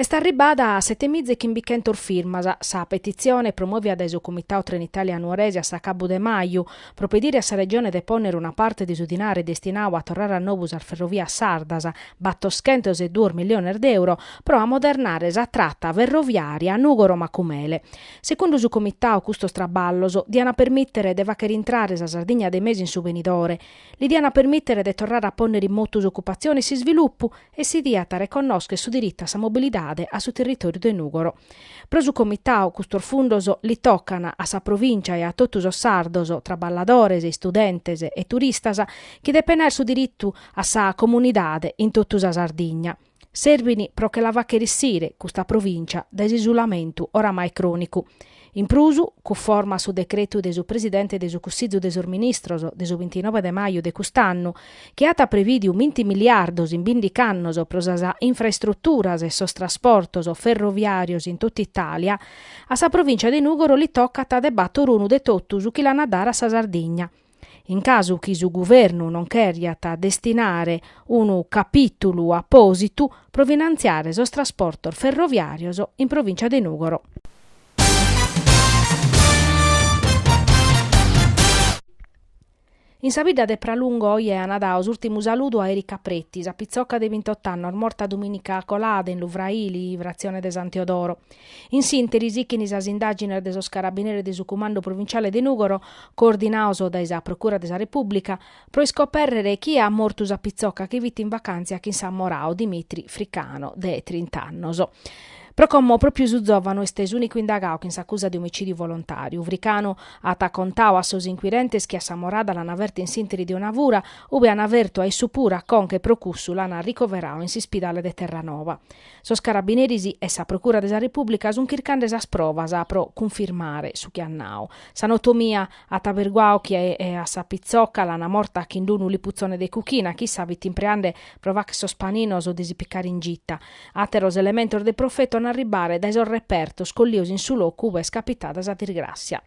Est arribada a setemiza e chimbichentos firmas sa petitzione promovia dai su Comitau Trenitalia Nuoresi a s'acabu de maju, pro pedire a sa Regione de pònnere una parte de su dinare destinau a torrare a nou sas ferrovias sardas, battoschentos e duos milliones de euro, pro amodernare sa trata ferroviària Nùgoro-Macumele. Segundu su Comitau custos traballos diant permìtere de fàghere intrare sa Sardigna de mesu in su benidore, li diant permìtere de torrare a pònnere in motu s'ocupatzione e s'isvilupu, e si diat a reconnòschere su diritu a sa mobilidade a su territòriu de Nùgoro. Pro su Comitau custos fundos li tocan a sa provìncia e a totu sos sardos, traballadores, istudentes e turistas, chi depen àere su diritu a sa comunidade in totu sa Sardigna. Serbin pro che la fàghere issire custa provìncia dae s'isulamentu oramai crònicu. In prus, cuforma a su decretu de su Presidente de su Cussizu de sos Ministros de su bintinove de maju de cust'annu, chi at prevìdiu vinti miliardos in bindic'annos pro sas infraestruturas e sos trasportos ferroviàrios in totu Itàlia, a sa Provìncia de Nùgoro li tocat de bator unu de totu su chi l'an a dare a sa Sardigna. In casu chi su Guvernu non cheriat destinare unu capìtulu apòsitu pro finantziare sos trasportos ferroviàrios in Provìncia de Nùgoro. In sa bidda de Pralungo oje an dau s'ùrtimu saludu a Erika Preti, sa pitzoca de bintot'annos morta dumìnica colada in Lu Fraili, fratzione de San Teodoro. In s'ìnteri sichin sas indàgines de sos carabineros de su Cumandu Provinciale de Nùgoro, coordinaus dai sa Procura de sa Repùblica, pro iscopèrrere chie at mortu sa pitzoca chi fit in vacàntzia chin s'ammorau Dimitri Fricano, de trint'annos. Pro como pròpiu su zòvanu est s'ùnicu indagau chin s'acusa de omicìdiu volontàriu, Fricano at contau a sos inquirentes chi a s'ammorada l'an ferta in s'ìnteri de una fura, ue an fertu a issu puru a conca e pro cussu l'an ricoverau in s'ispidale de Terranoa. Sos carabineris e sa Procura de sa Repùblica sun chircande sas provas pro cunfirmare su chi at nau. S'anotomia at aberguau chi a sa pitzoca l'an morta chin d'unu liputzone de cuchina, chi issa fit impreande pro fagher sos paninos de si picare in gita. Àteros elementos de profetu an a arribare dai sos repertos collios in su locu ue est capitada sa disgràtzia.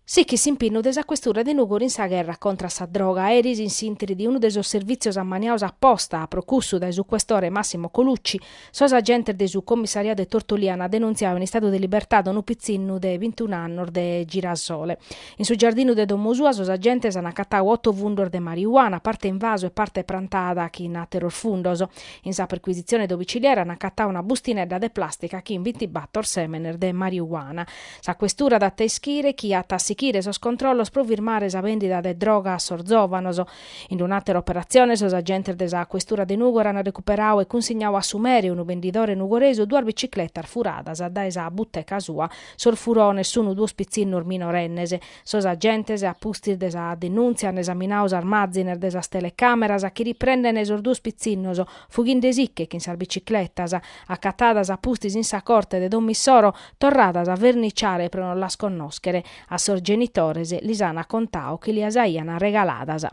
Sichit s'impinnu de sa Questura de Nùgoro in sa gherra contra a sa droga. Eris in s'ìnteri de unu de sos servìtzios ammaniaus a posta, a pro cussu, dai su Questore Massimo Colucci, sos agentes de su Commissariadu de Tortolì an denunziau in istadu de libertade unu pitzinnu de bintun'annos de Girasole. In su giardinu de domo sua sos agentes an acatau oto fundos de mariuana, parte in vasu e parte prantada chin àteros fundos. In sa perquisitzione domiciliare an acatau una bustinedda de plàstica chin bintibator sèmenes de mariuana. Sa Questura dat a ischire chi at a sichire sos controllos pro firmare sa bèndida de droga a sos zòvanos. In un'àtera operatzione sos agentes de sa Questura de Nùgoro an recuperadu e cunsignadu a su mere, unu bendidore nugoresu, duas bicicletas furadas dae sa buteca sua. Sos furones sun duos pitzinnos minorennes. Sos agentes, a pustis de sa denùntzia, an esaminadu sas màzines de sas telecàmeras chi riprendent sos duos pitzinnos fughindesicche chin sas bicicletas. Acatadas a pustis in sa corte de domo issoro, torradas a verniciare pro non las connòschere, a sos genitores lis an contadu chi lias aian arregaladas.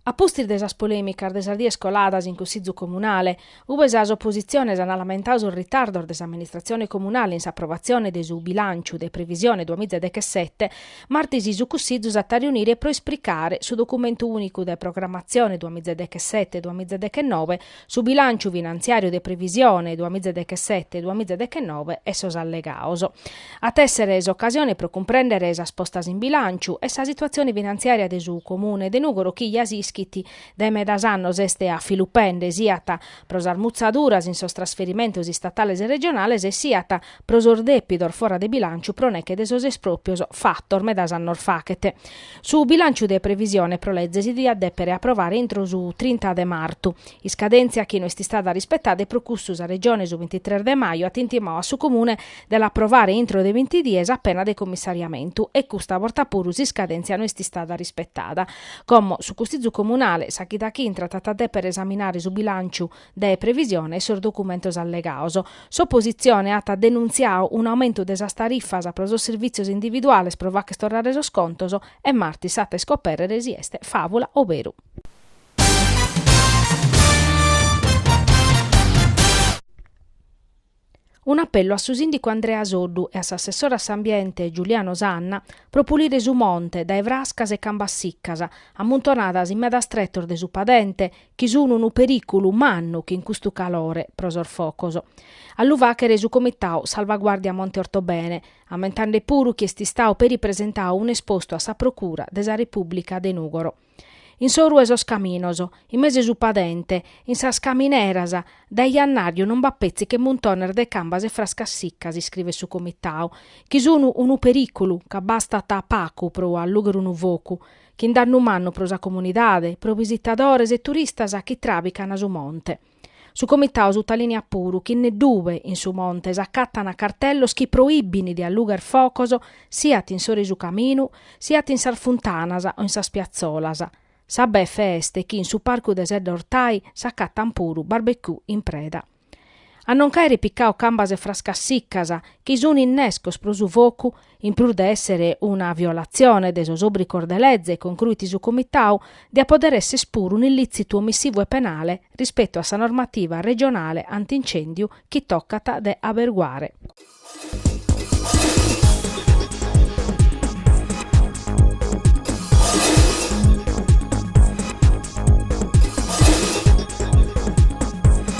A pustis de sas polèmicas de sas dies coladas in Cussizu Comunale, ue sas opositziones an lamentadu sos ritardos de s'amministratzione comunale in s'aprovatzione de su bilànciu de previsione duamiza dechesete, martis su Cussizu s'at a riunire pro ispricare su documentu ùnicu de programmatzione duamiza dechesete, duamiza dechennove, su bilànciu finantziàriu de previsione duamiza dechesete, duamiza dechennove e sos allegados. At a èssere s'ocasione pro cumprèndere sas postas in bilànciu e sa situatzione finantziària de su Comune de Nùgoro chi, ja s'ischit, dae medas annos est a filu pende, siat pro sas mutzaduras in sos trasferimentos istatales e regionales e siat pro sos dèpidos fora de bilànciu pro neche de sos espròpios fatos medas annos faghet. Su bilànciu de previsione pro leze si diat dèpere aprovare intro su trinta de martu, iscadèntzia chi no est istada rispetada e pro custu sa Regione su bintitres de maju at intimadu a su Comune de l'aprovare intro de binti dies a pena de commissariamentu e custa borta puru s'iscadèntzia no est istada rispetada. Como su Cussizu Comunale sa chida chi intrat at a dèpere esaminare su bilànciu de previsione e sos documentos allegados. S'opositzione at denuntziadu un'aumentu de sas tarifas pro sos sirvìtzios individuales pro fàcher torrare sos contos e martis s'at a iscopèrrere si est fàvula o beru. Un'apellu a su sìndicu Andrea Soddu e a s'assessore a s'Ambiente Giuliano Sanna pro pulire su monte dae frascas e cambas siccas ammuntonadas in medas tretos de su padente chi sun unu perìculu mannu chin custu calore pro sos focos. A lu fàchere su comitadu Salvaguardia Monte Ortobene, ammentande puru chi est istadu peri presentadu un'espostu a sa Procura de sa Repùblica de Nùgoro. In s'oru 'e sos caminos, in mesu 'e su padente, in sas camineras, dae jannàriu non b'at petzi che muntones de cambas e frascas siccas, iscrivet su Comitau, chi sun unu perìculu, ca bastat pacu pro allùchere unu focu, chin dannu mannu pro sa comunidade, pro bisitadores e turistas chi tràbicana su monte. Su Comitau sutalìniat puru chi neddue in su monte s'acatant cartellos chi proìbint de allugher focos siat in s'oru 'e su caminu siat in sas funtanas o in sas piatzolas. Sa befe est chi in su parcu de Sedda Ortai s'acatant puru barbecue in preda a non ch'àere picadu cambas e frascas sicas chi sunt innescos pro su focu in prus de èssere una violatzione de sos òbrigos de leze, concruit su Comitau, diat pòdere èsser puru un'illìtzitu omissivu e penale rispetu a sa normativa regionale anti-incèndiu chi tocat de aberguare.